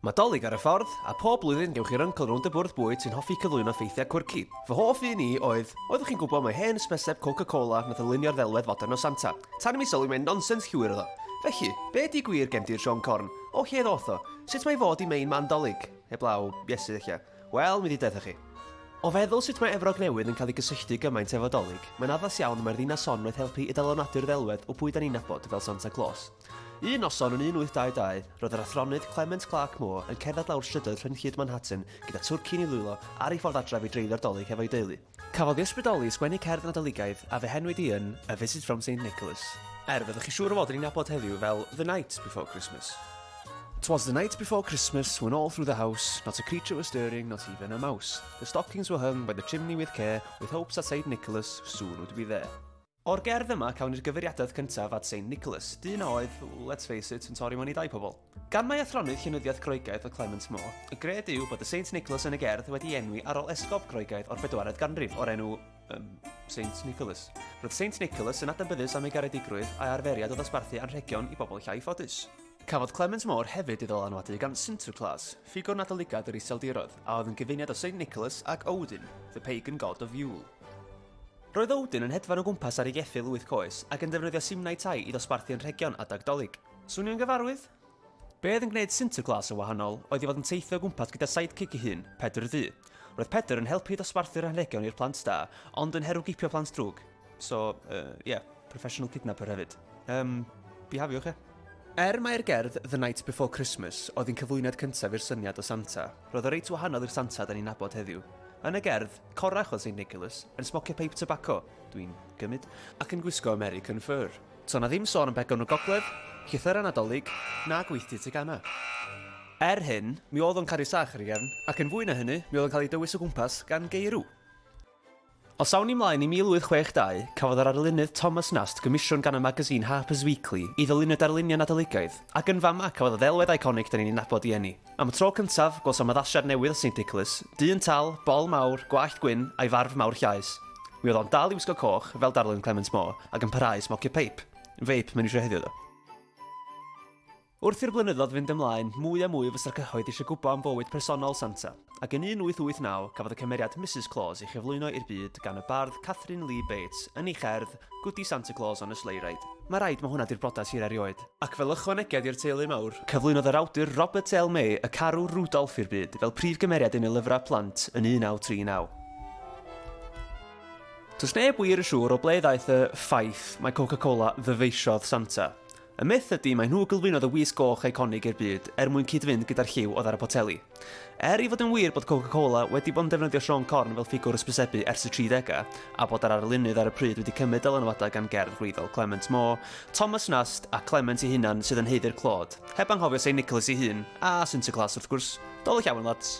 Mae 'Dolig ar y Ffordd', a phob blwyddyn gewch chi'r yncl rownd y bwrdd bwyd sy'n hoffi cyflwyno ffeithiau quirky. Fy hoff un i oedd, oeddwch chi'n gwybod mai hen ysbyseb Coca Cola nath ylunio'r ddelwedd fodern o Santa? Tan i mi sylwi mai nonsens llwyr oedd o. Felly, be di gwir gen di'r Siôn Corn? O lle ddoth o? Sut mae fod i mein man 'Dolig? Heblaw, Iesu ella. Wel, mi di deutha chi. O feddwl sut mae Efrog Newydd yn cael ei gysylltu gymaint efo 'Dolig, mae'n addas iawn y mae'r ddinas hon wnaeth helpu i dalonadu'r ddelwedd o bwy da ni'n nabod fel Santa Claus. Un noson yn 1822, roedd yr athronydd Clement Clarke Moore yn cerdded lawr strydoedd rhyng-hyd Manhattan gyda twrcyn i ddwylo ar ei ffordd adref i dreulio'r Dolig hefo'i deulu. Cafodd ei ysbrydoli i sgwennu cerdd Nadoligaidd a fe henwyd hi yn A Visit from Saint Nicholas, er fyddwch chi siŵr o fod yn ei nabod heddiw fel The Night Before Christmas. 'Twas the night before Christmas when all through the house Not a creature was stirring, not even a mouse The stockings were hung by the chimney with care With hopes that Saint Nicholas soon would be there. O'r gerdd yma cawn ni'r gyfeiriadaeth cyntaf at Saint Nicholas, dyn a oedd, let's face it, yn torri mewn i dai pobl. Gan mai athronydd llenyddiaeth Groegaidd oedd Clement Moore, y gred yw bod y Saint Nicholas yn y gerdd wedi ei enwi ar ol esgob Groegaidd o'r bedwaredd ganrif o'r enw, yym, Saint Nicholas. Roedd Saint Nicholas yn adnabyddus am ei garedigrwydd a'i arferiad o ddosbarthu anrhegion i bobl llai ffodus. Cafodd Clement Moore hefyd ei ddylanwadu gan Sinterklaas, ffigwr Nadoligaidd yr Iseldiroedd, a oedd yn gyfuniad o Saint Nicholas ac Odin, the pagan god of Yule. Roedd Odin yn hedfan o gwmpas ar ei geffyl wyth coes ac yn defnyddio simnai tai i ddosbarthu anrhegion adeg Dolig. Swnio'n gyfarwydd? Be oedd yn gwneud Sinterklaas yn wahanol oedd ei fod yn teithio o gwmpas gyda sidekick ei hun, Pedr y du. Roedd Pedr yn helpu i ddosbarthu'r anrhegion i'r plant da, ond yn her o gipio plant drwg. So, uh, yeah, professional kidnapper hefyd. Um, bihafiwch, ie? Er mai'r gerdd The Night Before Christmas oedd yn cyflwyniad cyntaf i'r syniad o Santa, roedd o reit wahanol i'r Santa da ni'n nabod heddiw. Yn y gerdd, Corrach oedd Saint Nicholas, yn smocio peip tybaco, dwi'n gymyd, ac yn gwisgo American fur. To' 'na ddim sôn am begon y gogledd, llythyra Nadolig, na gweithdy tegana. Er hyn, mi oedd o'n caru sach ar ei gefn, ac yn fwy na hynny, mi oedd o'n cael ei dywys o gwmpas gan geirw. Os awn ni mlaen i 1862, cafodd yr arlunydd Thomas Nast gomisiwn gan y magazine Harper's Weekly i ddylunio darluniau Nadoligaidd, ac yn fama cafodd y ddelwedd eiconig 'dan ni'n ei nabod i eni. Am y tro cyntaf, gwelsom addasiad newydd o Saint Nicholas, dyn tal, bol mawr, gwallt gwyn, a'i farf mawr llaes. Mi oedd o'n dal i wisgo coch, fel darlun Clement Moore, ac yn parhau i smocio peip. Feip, mae'n eisiau heddiw ddo. Wrth i'r blynyddoedd fynd ymlaen, mwy a mwy o fysra cyhoedd eisiau gwybod am fywyd personol Santa, ac yn 1889 cafodd y cymeriad Misus Claus ei chyflwyno i'r byd gan y bardd Catherine Lee Bates yn ei cherdd Gwdi Santa Claus on a Sleigh Ride. Mae rhaid mai hwnna 'di'r briodas hir erioed. Ac fel ychwanegedd i'r teulu mawr. Cyflwynodd yr awdur Robert L. May Y Carw Rudolph i'r byd fel prif gymeriad yn ei lyfrau plant yn 1939. Does neb wir yn siŵr o ble ddaeth y ffaith mai Coca-Cola ddyfeisiodd Santa. Y myth ydy mai nhw gylwynodd y Wisg Goch eiconig i'r byd er mwyn cyd-fynd gyda'r lliw oedd ar y poteli. Er ei fod yn wir bod Coca-Cola wedi bod yn defnyddio Siôn Corn fel ffigwr hysbysebu ers y 30au, a bod yr arlunydd ar y pryd wedi cymryd dylanwadau gan gerdd gwreiddiol Clement Moore, Thomas Nast a Clement ei hunan sydd yn haeddu'r clod, heb anghofio Saint Nicholas ei hun, a Sinterklaas wrth gwrs. Dolig iawn, lads!